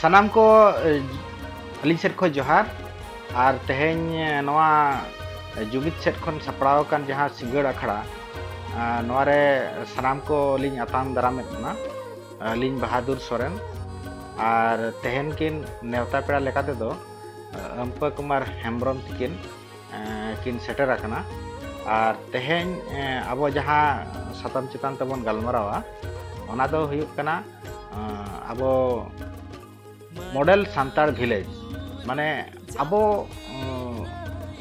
ᱥᱟᱱᱟᱢ ᱠᱚ ᱟᱹᱞᱤᱧ ᱥᱮᱫ ᱠᱷᱚᱱ ᱡᱚᱦᱟᱨ ᱟᱨ ᱛᱮᱦᱮᱧ ᱱᱚᱣᱟ ᱡᱩᱢᱤᱫ ᱥᱮᱫ ᱠᱷᱚᱱ ᱥᱟᱯᱲᱟᱣ ᱟᱠᱟᱱ ᱡᱟᱦᱟᱸ ᱥᱤᱸᱜᱟᱹᱲ ᱟᱠᱷᱲᱟ ᱱᱚᱣᱟ ᱨᱮ ᱥᱟᱱᱟᱢ ᱠᱚ ᱞᱤᱧ ᱟᱛᱟᱝ ᱫᱟᱨᱟᱢᱮᱫ ᱵᱚᱱᱟ ᱟᱹᱞᱤᱧ ᱵᱟᱦᱟᱫᱩᱨ ᱥᱚᱨᱮᱱ ᱟᱨ ᱛᱮᱦᱮᱧ ᱠᱤᱱ ᱱᱮᱣᱛᱟ ᱯᱮᱲᱟ ᱞᱮᱠᱟ ᱛᱮᱫᱚ ᱟᱢᱯᱟ ᱠᱩᱢᱟᱨ ᱦᱮᱢᱵᱨᱚᱢ ᱛᱤᱠᱤᱱ ᱠᱤᱱ ᱥᱮᱴᱮᱨ ᱟᱠᱟᱱᱟ ᱟᱨ ᱛᱮᱦᱮᱧ ᱟᱵᱚ ᱡᱟᱦᱟᱸ ᱥᱟᱛᱟᱢ ᱪᱮᱛᱟᱱ ᱛᱮᱵᱚᱱ ᱜᱟᱞᱢᱟᱨᱟᱣᱟ ᱚᱱᱟ ᱫᱚ ᱦᱩᱭᱩᱜ ᱠᱟᱱᱟ ᱟᱵᱚ ᱢᱚᱰᱮᱞ ᱥᱟᱱᱛᱟᱲ ᱵᱷᱤᱞᱮᱡᱽ ᱢᱟᱱᱮ ᱟᱵᱚ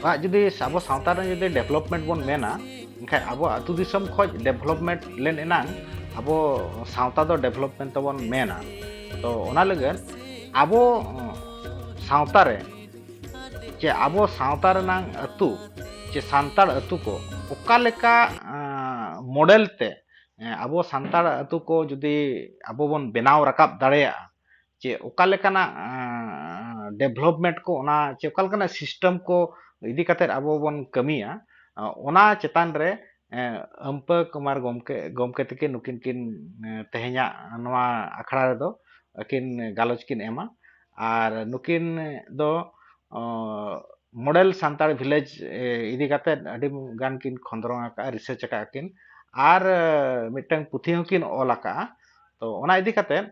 ᱟᱜ ᱡᱩᱫᱤ ᱟᱵᱚ ᱥᱟᱶᱛᱟ ᱨᱮ ᱡᱩᱫᱤ ᱰᱮᱵᱷᱞᱚᱯᱢᱮᱱᱴ ᱵᱚᱱ ᱢᱮᱱᱟ ᱮᱱᱠᱷᱟᱱ ᱟᱵᱚ ᱟᱹᱛᱩ ᱫᱤᱥᱚᱢ ᱠᱷᱚᱱ ᱰᱮᱵᱷᱞᱚᱯᱢᱮᱱᱴ ᱞᱮᱱ ᱮᱱᱟᱝ ᱟᱵᱚ ᱥᱟᱶᱛᱟ ᱫᱚ ᱰᱮᱵᱷᱞᱚᱯᱢᱮᱱᱴ ᱛᱮᱵᱚᱱ ᱢᱮᱱᱟ ᱛᱚ ᱚᱱᱟ ᱞᱟᱹᱜᱤᱫ ᱟᱵᱚ ᱥᱟᱶᱛᱟ ᱨᱮ ᱪᱮ ᱟᱵᱚ ᱥᱟᱶᱛᱟ ᱨᱮᱱᱟᱝ ᱟᱹᱛᱩ ᱪᱮ ᱥᱟᱱᱛᱟᱲ ᱟᱹᱛᱩ ᱠᱚ ᱚᱠᱟ ᱞᱮᱠᱟ ᱢᱚᱰᱮᱞ ᱛᱮ ᱟᱵᱚ ᱥᱟᱱᱛᱟᱲ ᱟᱹᱛᱩ ᱠᱚ ᱡᱩᱫᱤ ᱟᱵᱚ ᱵᱚᱱ ᱵᱮᱱᱟᱣ ᱨᱟᱠᱟᱵ ᱫᱟᱲᱮᱭᱟᱜᱼᱟ ᱪᱮ ᱚᱠᱟ ᱞᱮᱠᱟᱱᱟᱜ ᱰᱮᱵᱷᱞᱚᱯᱢᱮᱱᱴ ᱠᱚ ᱚᱱᱟ ᱪᱮ ᱚᱠᱟ ᱞᱮᱠᱟᱱᱟᱜ ᱥᱤᱥᱴᱮᱢ ᱠᱚ ᱤᱫᱤ ᱠᱟᱛᱮᱫ ᱟᱵᱚ ᱵᱚᱱ ᱠᱟᱹᱢᱤᱭᱟ ᱚᱱᱟ ᱪᱮᱛᱟᱱ ᱨᱮ ᱟᱹᱢᱯᱟᱹ ᱠᱩᱢᱟᱨ ᱜᱚᱢᱠᱮ ᱜᱚᱢᱠᱮ ᱛᱟᱹᱠᱤᱱ ᱱᱩᱠᱤᱱ ᱠᱤᱱ ᱛᱮᱦᱮᱧᱟᱜ ᱱᱚᱣᱟ ᱟᱠᱷᱲᱟ ᱨᱮᱫᱚ ᱟᱹᱠᱤᱱ ᱜᱟᱞᱚᱪ ᱠᱤᱱ ᱮᱢᱟ ᱟᱨ ᱱᱩᱠᱤᱱ ᱫᱚ ᱢᱚᱰᱮᱞ ᱥᱟᱱᱛᱟᱲ ᱵᱷᱤᱞᱮᱡᱽ ᱤᱫᱤ ᱠᱟᱛᱮᱫ ᱟᱹᱰᱤ ᱜᱟᱱ ᱠᱤᱱ ᱠᱷᱚᱸᱫᱽᱨᱚᱱ ᱟᱠᱟᱫᱼᱟ ᱨᱤᱥᱟᱨᱪ ᱟᱠᱟᱫᱼᱟ ᱠᱤᱱ ᱟᱨ ᱢᱤᱫᱴᱟᱹᱝ ᱯᱩᱛᱷᱤ ᱦᱚᱸᱠᱤᱱ ᱚᱞ ᱟᱠᱟᱫᱼᱟ ᱛᱚ ᱚᱱᱟ ᱤᱫᱤ ᱠᱟᱛᱮᱫ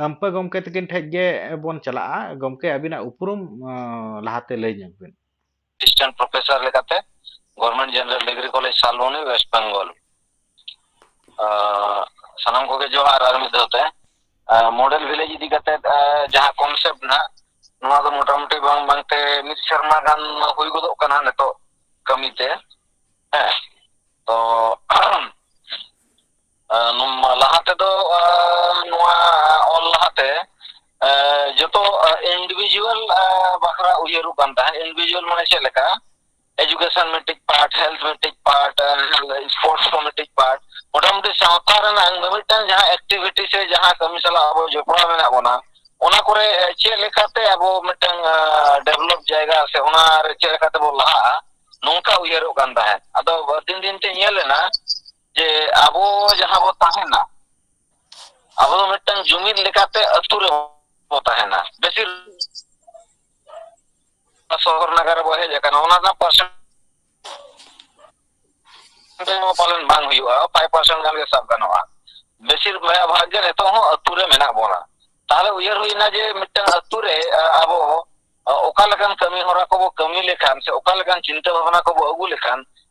ᱟᱹᱢᱯᱟᱹ ᱜᱚᱢᱠᱮ ᱛᱟᱹᱠᱤᱱ ᱴᱷᱮᱱ ᱜᱮᱵᱚᱱ ᱪᱟᱞᱟᱜᱼᱟ ᱜᱚᱢᱠᱮ ᱟᱹᱵᱤᱱᱟᱜ ᱩᱯᱨᱩᱢ ᱞᱟᱦᱟᱛᱮ ᱞᱟᱹᱭ ᱧᱚᱜᱽ ᱵᱤᱱ ᱮᱥᱤᱥᱴᱮᱱᱴ ᱯᱨᱚᱯᱷᱮᱥᱟᱨ ᱞᱮᱠᱟᱛᱮ government general degree college Salboni West Bengal ᱥᱟᱱᱟᱢ ᱠᱚᱜᱮ ᱡᱚᱦᱟᱨ ᱟᱨ ᱢᱤᱫ ᱫᱷᱟᱣ ᱛᱮ ᱢᱚᱰᱮᱞ ᱵᱷᱤᱞᱮᱡᱽ ᱤᱫᱤ ᱠᱟᱛᱮ ᱡᱟᱦᱟᱸ ᱠᱚᱱᱥᱮᱯᱴ ᱱᱟᱜ ᱱᱚᱣᱟ ᱫᱚ ᱢᱚᱴᱟᱢᱩᱴᱤ ᱵᱟᱝ ᱵᱟᱝᱛᱮ ᱢᱤᱫ ᱥᱮᱨᱢᱟ ᱜᱟᱱ ᱦᱩᱭ ᱜᱚᱫᱚᱜ ᱠᱟᱱᱟ ᱱᱤᱛᱚᱜ ᱠᱟᱹᱢᱤᱛᱮ ᱦᱮᱸ ᱛᱚ ᱞᱟᱦᱟ ᱛᱮᱫᱚ ᱱᱚᱣᱟ ᱚᱞ ᱞᱟᱦᱟᱛᱮ ᱡᱚᱛᱚ ᱤᱱᱰᱤᱵᱷᱤᱡᱩᱣᱟᱞ ᱵᱟᱠᱷᱨᱟ ᱩᱭᱦᱟᱹᱨᱚᱜ ᱠᱟᱱ ᱛᱟᱦᱮᱸᱫ ᱤᱱᱰᱤᱵᱷᱤᱡᱩᱣᱟᱞ ᱢᱟᱱᱮ ᱪᱮᱫ ᱞᱮᱠᱟ ᱮᱡᱩᱠᱮᱥᱚᱱ ᱢᱤᱫᱴᱤᱡ ᱯᱟᱨᱴ ᱦᱮᱞᱛᱷ ᱢᱤᱫᱴᱤᱡ ᱯᱟᱨᱴ ᱥᱯᱳᱨᱴᱥ ᱠᱚ ᱢᱤᱫᱴᱤᱡ ᱯᱟᱨᱴ ᱢᱳᱴᱟᱢᱩᱴᱤ ᱥᱟᱶᱛᱟ ᱨᱮᱱᱟᱜ ᱢᱤᱢᱤᱫᱴᱟᱝ ᱡᱟᱦᱟᱸ ᱮᱠᱴᱤᱵᱷᱤᱴᱤ ᱥᱮ ᱡᱟᱦᱟᱸ ᱠᱟᱹᱢᱤ ᱥᱟᱞᱟᱜ ᱟᱵᱚ ᱡᱚᱯᱲᱟᱣ ᱢᱮᱱᱟᱜ ᱵᱚᱱᱟ ᱚᱱᱟ ᱠᱚᱨᱮ ᱪᱮᱫ ᱞᱮᱠᱟᱛᱮ ᱟᱵᱚ ᱢᱤᱫᱴᱟᱝ ᱰᱮᱵᱷᱞᱚᱯ ᱡᱟᱭᱜᱟ ᱥᱮ ᱚᱱᱟᱨᱮ ᱪᱮᱫ ᱞᱮᱠᱟᱛᱮ ᱵᱚᱱ ᱞᱟᱦᱟᱜᱼᱟ ᱱᱚᱝᱠᱟ ᱩᱭᱦᱟᱹᱨᱚᱜ ᱠᱟᱱ ᱛᱟᱦᱮᱸᱫ ᱟᱫᱚ ᱫᱤᱱ ᱫᱤᱱ ᱛᱮ ᱧᱮᱞ ᱮᱱᱟ ᱡᱮ ᱟᱵᱚ ᱡᱟᱦᱟᱸ ᱵᱚ ᱛᱟᱦᱮᱱᱟ ᱟᱵᱚ ᱫᱚ ᱢᱤᱫᱴᱟᱝ ᱡᱩᱢᱤᱫ ᱞᱮᱠᱟᱛᱮ ᱟᱹᱛᱩ ᱨᱮ ᱵᱚ ᱛᱟᱦᱮᱱᱟ ᱵᱮᱥᱤᱨ ᱥᱚᱦᱚᱨ ᱱᱟᱜᱟᱨ ᱨᱮᱵᱚ ᱦᱮᱡ ᱟᱠᱟᱱᱟ ᱚᱱᱟ ᱨᱮᱱᱟᱜ ᱯᱟᱨᱥᱮᱱ ᱯᱟᱞᱚᱱ ᱵᱟᱝ ᱦᱩᱭᱩᱜᱼᱟ ᱯᱷᱟᱭᱤᱵ ᱯᱟᱨᱥᱮᱱ ᱜᱟᱱ ᱜᱮ ᱥᱟᱵ ᱜᱟᱱᱚᱜᱼᱟ ᱵᱮᱥᱤᱨ ᱵᱷᱟᱜᱽ ᱜᱮ ᱱᱤᱛᱚᱜ ᱦᱚᱸ ᱟᱹᱛᱩ ᱨᱮ ᱢᱮᱱᱟᱜ ᱵᱚᱱᱟ ᱛᱟᱦᱚᱞᱮ ᱩᱭᱦᱟᱹᱨ ᱦᱩᱭᱱᱟ ᱡᱮ ᱢᱤᱫᱴᱟᱝ ᱟᱹᱛᱩ ᱨᱮ ᱟᱵᱚ ᱚᱠᱟ ᱞᱮᱠᱟᱱ ᱠᱟᱹᱢᱤ ᱦᱚᱨᱟ ᱠᱚᱵᱚ ᱠᱟᱹᱢᱤ ᱞᱮᱠᱷᱟᱱ ᱥᱮ ᱚᱠᱟ ᱞᱮᱠᱟᱱ ᱪᱤᱱᱛᱟᱹ ᱵᱷᱟᱵᱱᱟ ᱠᱚᱵᱚ ᱟᱹᱜᱩ ᱞᱮᱠᱷᱟᱱ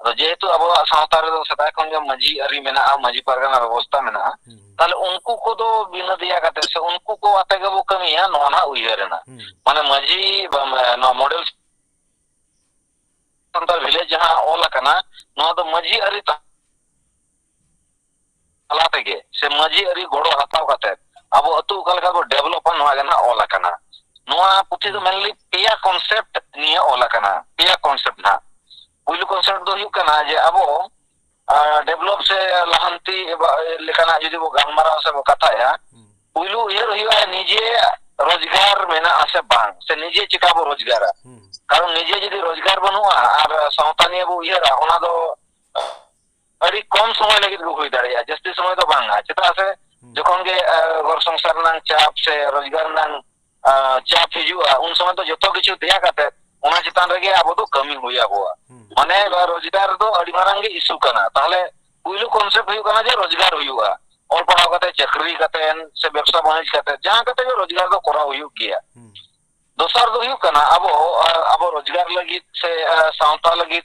ᱟᱫᱚ ᱡᱮᱦᱮᱛᱩ ᱟᱵᱚᱣᱟᱜ ᱥᱟᱶᱛᱟ ᱨᱮᱫᱚ ᱥᱮᱫᱟᱭ ᱠᱷᱚᱱ ᱜᱮ ᱢᱟᱹᱡᱷᱤ ᱟᱹᱨᱤ ᱢᱮᱱᱟᱜᱼᱟ ᱢᱟᱹᱡᱷᱤ ᱯᱟᱨᱜᱟᱱᱟ ᱵᱮᱵᱚᱥᱛᱟ ᱢᱮᱱᱟᱜᱼᱟ ᱛᱟᱦᱚᱞᱮ ᱩᱱᱠᱩ ᱠᱚᱫᱚ ᱵᱤᱱᱟᱹ ᱫᱮᱭᱟ ᱠᱟᱛᱮ ᱥᱮ ᱩᱱᱠᱩ ᱠᱚ ᱟᱛᱮ ᱜᱮᱵᱚ ᱠᱟᱹᱢᱤᱭᱟ ᱱᱚᱣᱟ ᱱᱟᱦᱟᱜ ᱩᱭᱦᱟᱹᱨ ᱮᱱᱟ ᱢᱟᱱᱮ ᱢᱟᱹᱡᱷᱤ ᱱᱚᱣᱟ ᱢᱚᱰᱮᱞ ᱥᱟᱱᱛᱟᱲ ᱵᱷᱤᱞᱮᱡᱽ ᱡᱟᱦᱟᱸ ᱚᱞ ᱟᱠᱟᱱᱟ ᱱᱚᱣᱟ ᱫᱚ ᱢᱟᱹᱡᱷᱤ ᱟᱹᱨᱤ ᱛᱟᱞᱟ ᱛᱮᱜᱮ ᱥᱮ ᱢᱟᱹᱡᱷᱤ ᱟᱹᱨᱤ ᱜᱚᱲᱚ ᱦᱟᱛᱟᱣ ᱠᱟᱛᱮ ᱟᱵᱚ ᱟᱹᱛᱩ ᱚᱠᱟ ᱞᱮᱠᱟ ᱠᱚ ᱰᱮᱵᱷᱞᱚᱯᱟ ᱱᱚᱣᱟ ᱜᱮ ᱱᱟᱦᱟᱜ ᱚᱞ ᱟᱠᱟᱱᱟ ᱱᱚᱣᱟ ᱯᱩᱛᱷᱤ ᱫᱚ ᱢᱮᱱᱞᱤ ᱯᱮᱭᱟ ᱠᱚᱱᱥᱮᱯᱴ ᱱᱤᱭᱟᱹ ᱚᱞ ᱟᱠᱟᱱᱟ ᱯᱮᱭᱟ ᱠᱚᱱᱥᱮᱯᱴ ᱱᱟᱦᱟᱜ ᱯᱩᱭᱞᱩ ᱠᱚᱱᱥᱮᱯᱴ ᱫᱚ ᱦᱩᱭᱩᱜ ᱠᱟᱱᱟ ᱡᱮ ᱟᱵᱚ ᱰᱮᱵᱷᱞᱚᱯ ᱥᱮ ᱞᱟᱦᱟᱱᱛᱤ ᱞᱮᱠᱟᱱᱟᱜ ᱡᱩᱫᱤ ᱵᱚ ᱜᱟᱞᱢᱟᱨᱟᱣ ᱥᱮ ᱵᱚ ᱠᱟᱛᱷᱟᱭᱟ ᱯᱩᱭᱞᱩ ᱩᱭᱦᱟᱹᱨ ᱦᱩᱭᱩᱜᱼᱟ ᱱᱤᱡᱮ ᱨᱳᱡᱽᱜᱟᱨ ᱢᱮᱱᱟᱜᱼᱟ ᱥᱮ ᱵᱟᱝ ᱥᱮ ᱱᱤᱡᱮ ᱪᱮᱠᱟ ᱵᱚ ᱨᱳᱡᱽᱜᱟᱨᱟ ᱠᱟᱨᱚᱱ ᱱᱤᱡᱮ ᱡᱩᱫᱤ ᱨᱳᱡᱽᱜᱟᱨ ᱵᱟᱹᱱᱩᱜᱼᱟ ᱟᱨ ᱥᱟᱶᱛᱟ ᱱᱤᱭᱟᱹ ᱵᱚ ᱩᱭᱦᱟᱹᱨᱟ ᱚᱱᱟ ᱫᱚ ᱟᱹᱰᱤ ᱠᱚᱢ ᱥᱚᱢᱚᱭ ᱞᱟᱹᱜᱤᱫ ᱜᱮ ᱦᱩᱭ ᱫᱟᱲᱮᱭᱟᱜᱼᱟ ᱡᱟᱹᱥᱛᱤ ᱥᱚᱢᱚᱭ ᱫᱚ ᱵᱟᱝᱟ ᱪᱮᱫᱟᱜ ᱥᱮ ᱡᱚᱠᱷᱚᱱ ᱜᱮ ᱜᱚᱨ ᱥᱚᱝᱥᱟᱨ ᱨᱮᱱᱟᱜ ᱪᱟᱯ ᱥᱮ ᱨᱳᱡᱽᱜᱟᱨ ᱨᱮᱱᱟᱜ ᱪᱟᱯ ᱦᱤᱡᱩᱜᱼᱟ ᱩᱱ ᱥᱚᱢᱚᱭ ᱫᱚ ᱡᱚᱛᱚ ᱠᱤᱪᱷᱩ ᱫᱮᱭᱟ ᱠᱟᱛᱮ ᱚᱱᱟ ᱪᱮᱛᱟᱱ ᱨᱮᱜᱮ ᱟᱵᱚ ᱫᱚ ᱠᱟᱹᱢᱤ ᱦᱩᱭ ᱟᱵᱚᱣᱟ ᱢᱟᱱᱮ ᱨᱳᱡᱽᱜᱟᱨ ᱫᱚ ᱟᱹᱰᱤ ᱢᱟᱨᱟᱝ ᱜᱮ ᱤᱥᱩ ᱠᱟᱱᱟ ᱛᱟᱦᱚᱞᱮ ᱯᱩᱭᱞᱩ ᱠᱚᱱᱥᱮᱯᱴ ᱦᱩᱭᱩᱜ ᱠᱟᱱᱟ ᱡᱮ ᱨᱳᱡᱽᱜᱟᱨ ᱦᱩᱭᱩᱜᱼᱟ ᱚᱞ ᱯᱟᱲᱦᱟᱣ ᱠᱟᱛᱮ ᱪᱟᱹᱠᱨᱤ ᱠᱟᱛᱮ ᱥᱮ ᱵᱮᱵᱽᱥᱟ ᱵᱟᱹᱱᱤᱡᱽ ᱠᱟᱛᱮ ᱡᱟᱦᱟᱸ ᱠᱟᱛᱮ ᱜᱮ ᱨᱳᱡᱽᱜᱟᱨ ᱫᱚ ᱠᱚᱨᱟᱣ ᱦᱩᱭᱩᱜ ᱜᱮᱭᱟ ᱫᱚᱥᱟᱨ ᱫᱚ ᱦᱩᱭᱩᱜ ᱠᱟᱱᱟ ᱟᱵᱚ ᱟᱵᱚ ᱨᱳᱡᱽᱜᱟᱨ ᱞᱟᱹᱜᱤᱫ ᱥᱮ ᱥᱟᱶᱛᱟ ᱞᱟᱹᱜᱤᱫ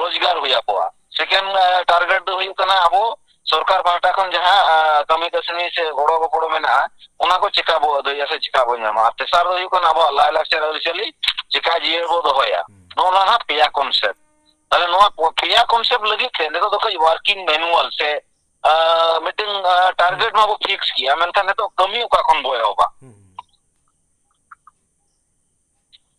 ᱨᱳᱡᱽᱜᱟᱨ ᱦᱩᱭ ᱟᱠᱚᱣᱟ ᱥᱮᱠᱮᱱᱰ ᱴᱟᱨᱜᱮᱴ ᱫᱚ ᱦᱩᱭᱩᱜ ᱠᱟᱱᱟ ᱟᱵᱚ ᱥᱚᱨᱠᱟᱨ ᱯᱟᱦᱴᱟ ᱠᱷᱚᱱ ᱡᱟᱦᱟᱸ ᱠᱟᱹᱢᱤ ᱠᱟᱹᱥᱱᱤ ᱥᱮ ᱜᱚᱲᱚ ᱜᱚᱯᱚᱲᱚ ᱢᱮᱱᱟᱜᱼᱟ ᱚᱱᱟ ᱠᱚ ᱪᱮᱠᱟ ᱵᱚ ᱟᱹᱫᱟᱹᱭᱟ ᱥᱮ ᱪᱮᱠᱟ ᱵᱚ ᱧᱟᱢᱟ ᱟᱨ ᱛᱮᱥᱟᱨ ᱫᱚ ᱦᱩᱭᱩᱜ ᱠᱟᱱᱟ ᱟᱵᱚᱣᱟᱜ ᱞᱟᱭᱼᱞᱟᱠᱪᱟᱨ ᱟᱹᱨᱤᱪᱟᱹᱞᱤ ᱪᱮᱠᱟ ᱡᱤᱭᱟᱹᱲ ᱵᱚ ᱫᱚᱦᱚᱭᱟ ᱱᱚᱜᱼᱚ ᱱᱚᱣᱟ ᱦᱟᱸᱜ ᱯᱮᱭᱟ ᱠᱚᱱᱥᱮᱯᱴ ᱛᱟᱦᱞᱮ ᱱᱚᱣᱟ ᱯᱮᱭᱟ ᱠᱚᱱᱥᱮᱯᱴ ᱞᱟᱹᱜᱤᱫ ᱛᱮ ᱱᱤᱛᱚᱜ ᱫᱚ ᱠᱟᱹᱡ ᱣᱟᱨᱠᱤᱝ ᱢᱮᱱᱩᱣᱟᱞ ᱥᱮ ᱢᱤᱫᱴᱟᱝ ᱴᱟᱨᱜᱮᱴ ᱢᱟᱵᱚ ᱯᱷᱤᱠᱥ ᱠᱮᱭᱟ ᱢᱮᱱᱠᱷᱟᱱ ᱱᱤᱛᱚᱜ ᱠᱟᱹᱢᱤ ᱚᱠᱟ ᱠᱷᱚᱱ ᱵᱚ ᱮᱦᱚᱵᱟ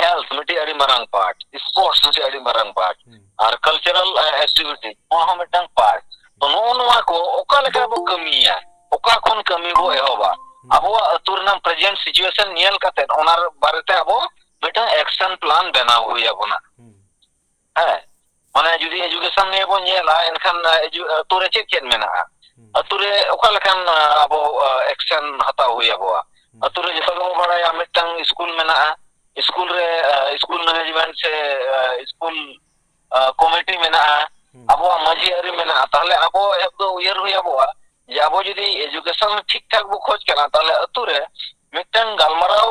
ᱦᱮᱞᱛᱷ ᱢᱤᱫᱴᱤᱡ ᱟᱹᱰᱤ ᱢᱟᱨᱟᱝ ᱯᱟᱨᱴ ᱥᱯᱳᱨᱴᱥ ᱢᱤᱫᱴᱤᱡ ᱟᱹᱰᱤ ᱢᱟᱨᱟᱝ ᱯᱟᱨᱴ ᱟᱨ ᱠᱟᱞᱪᱟᱨᱟᱞ ᱮᱠᱴᱤᱵᱷᱤᱴᱤ ᱱᱚᱣᱟ ᱦᱚᱸ ᱢᱤᱫᱴᱟᱝ ᱯᱟᱨᱴ ᱛᱚ ᱱᱚᱜᱼᱚ ᱱᱚᱣᱟ ᱠᱚ ᱚᱠᱟ ᱞᱮᱠᱟ ᱵᱚ ᱠᱟᱹᱢᱤᱭᱟ ᱚᱠᱟ ᱠᱷᱚᱱ ᱠᱟᱹᱢᱤ ᱵᱚ ᱮᱦᱚᱵᱟ ᱟᱵᱚᱣᱟᱜ ᱟᱹᱛᱩ ᱨᱮᱱᱟᱜ ᱯᱨᱮᱡᱮᱱᱴ ᱥᱤᱪᱩᱭᱮᱥᱚᱱ ᱧᱮᱞ ᱠᱟᱛᱮ ᱚᱱᱟ ᱵᱟᱨᱮᱛᱮ ᱟᱵᱚ ᱢᱤᱫᱴᱟᱝ ᱮᱠᱥᱚᱱ ᱯᱞᱟᱱ ᱵᱮᱱᱟᱣ ᱦᱩᱭ ᱟᱵᱚᱱᱟ ᱦᱮᱸ ᱢᱟᱱᱮ ᱡᱩᱫᱤ ᱮᱡᱩᱠᱮᱥᱚᱱ ᱱᱤᱭᱮ ᱵᱚᱱ ᱧᱮᱞᱟ ᱮᱱᱠᱷᱟᱱ ᱟᱛᱳ ᱨᱮ ᱪᱮᱫ ᱪᱮᱫ ᱢᱮᱱᱟᱜᱼᱟ ᱟᱛᱳ ᱨᱮ ᱚᱠᱟ ᱞᱮᱠᱟᱱ ᱟᱵᱚ ᱮᱠᱥᱮᱱ ᱦᱟᱛᱟᱣ ᱦᱩᱭ ᱟᱵᱚᱣᱟ ᱟᱛᱳ ᱨᱮ ᱡᱚᱛᱚ ᱜᱮᱵᱚᱱ ᱵᱟᱲᱟᱭᱟ ᱢᱤᱫᱴᱟᱝ ᱥᱠᱩᱞ ᱢᱮᱱᱟᱜᱼᱟ ᱥᱠᱩᱞ ᱨᱮ ᱥᱠᱩᱞ ᱢᱮᱱᱮᱡᱽᱢᱮᱱᱴ ᱥᱮ ᱥᱠᱩᱞ ᱠᱚᱢᱤᱴᱤ ᱢᱮᱱᱟᱜᱼᱟ ᱟᱵᱚᱣᱟᱜ ᱢᱟᱺᱡᱷᱤ ᱟᱹᱨᱤ ᱢᱮᱱᱟᱜᱼᱟ ᱛᱟᱦᱚᱞᱮ ᱟᱵᱚ ᱮᱦᱚᱵ ᱫᱚ ᱩᱭᱦᱟᱹᱨ ᱦᱩᱭ ᱟᱵᱚᱣᱟ ᱡᱮ ᱟᱵᱚ ᱡᱩᱫᱤ ᱮᱡᱩᱠᱮᱥᱚᱱ ᱴᱷᱤᱠ ᱴᱷᱟᱠ ᱵᱚ ᱠᱷᱚᱡᱽ ᱠᱟᱱᱟ ᱛᱟᱦᱚᱞᱮ ᱟᱛᱳ ᱨᱮ ᱢᱤᱫᱴᱟᱝ ᱜᱟᱞᱢᱟᱨᱟᱣ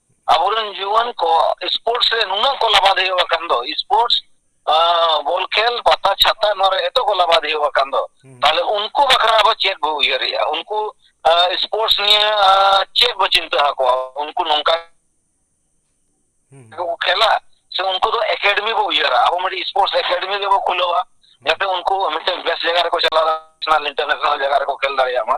ᱟᱵᱚᱨᱮᱱ ᱡᱩᱣᱟᱹᱱ ᱠᱚ ᱥᱯᱳᱨᱴᱥ ᱨᱮ ᱱᱩᱱᱟᱹᱜ ᱠᱚ ᱞᱟᱵᱟᱫᱷᱤ ᱟᱠᱟᱱ ᱫᱚ ᱥᱯᱳᱨᱴᱥ ᱵᱚᱞ ᱠᱷᱮᱞ ᱯᱟᱛᱟ ᱪᱷᱟᱛᱟ ᱱᱚᱣᱟ ᱨᱮ ᱮᱛᱚ ᱠᱚ ᱞᱟᱵᱟᱫᱷᱤ ᱟᱠᱟᱱ ᱫᱚ ᱛᱟᱦᱞᱮ ᱩᱱᱠᱩ ᱵᱟᱠᱷᱨᱟ ᱟᱵᱚ ᱪᱮᱫ ᱵᱚ ᱩᱭᱦᱟᱹᱨᱮᱜᱼᱟ ᱩᱱᱠᱩ ᱥᱯᱳᱨᱴᱥ ᱱᱤᱭᱮ ᱪᱮᱫ ᱵᱚ ᱪᱤᱱᱛᱟᱹ ᱟᱠᱚᱣᱟ ᱩᱱᱠᱩ ᱱᱚᱝᱠᱟ ᱠᱚ ᱠᱷᱮᱞᱟ ᱥᱮ ᱩᱱᱠᱩ ᱫᱚ ᱮᱠᱟᱰᱮᱢᱤ ᱵᱚ ᱩᱭᱦᱟᱹᱨᱟ ᱟᱵᱚ ᱢᱤᱫᱴᱤᱡ ᱥᱯᱳᱨᱴᱥ ᱮᱠᱟᱰᱮᱢᱤ ᱜᱮᱵᱚ ᱠᱷᱩᱞᱟᱹᱣᱟ ᱡᱟᱛᱮ ᱩᱱᱠᱩ ᱢᱤᱫᱴᱮᱱ ᱵᱮᱥ ᱡᱟᱭᱜᱟ ᱨᱮᱠᱚ ᱪᱟᱞᱟᱣ ᱱᱮᱥᱱᱟᱞ ᱤᱱᱴᱟᱨᱱᱮᱥᱱᱟᱞ ᱡᱟᱭᱜᱟ ᱨᱮᱠᱚ ᱠᱷᱮᱞ ᱫᱟᱲᱮᱭᱟᱜ ᱢᱟ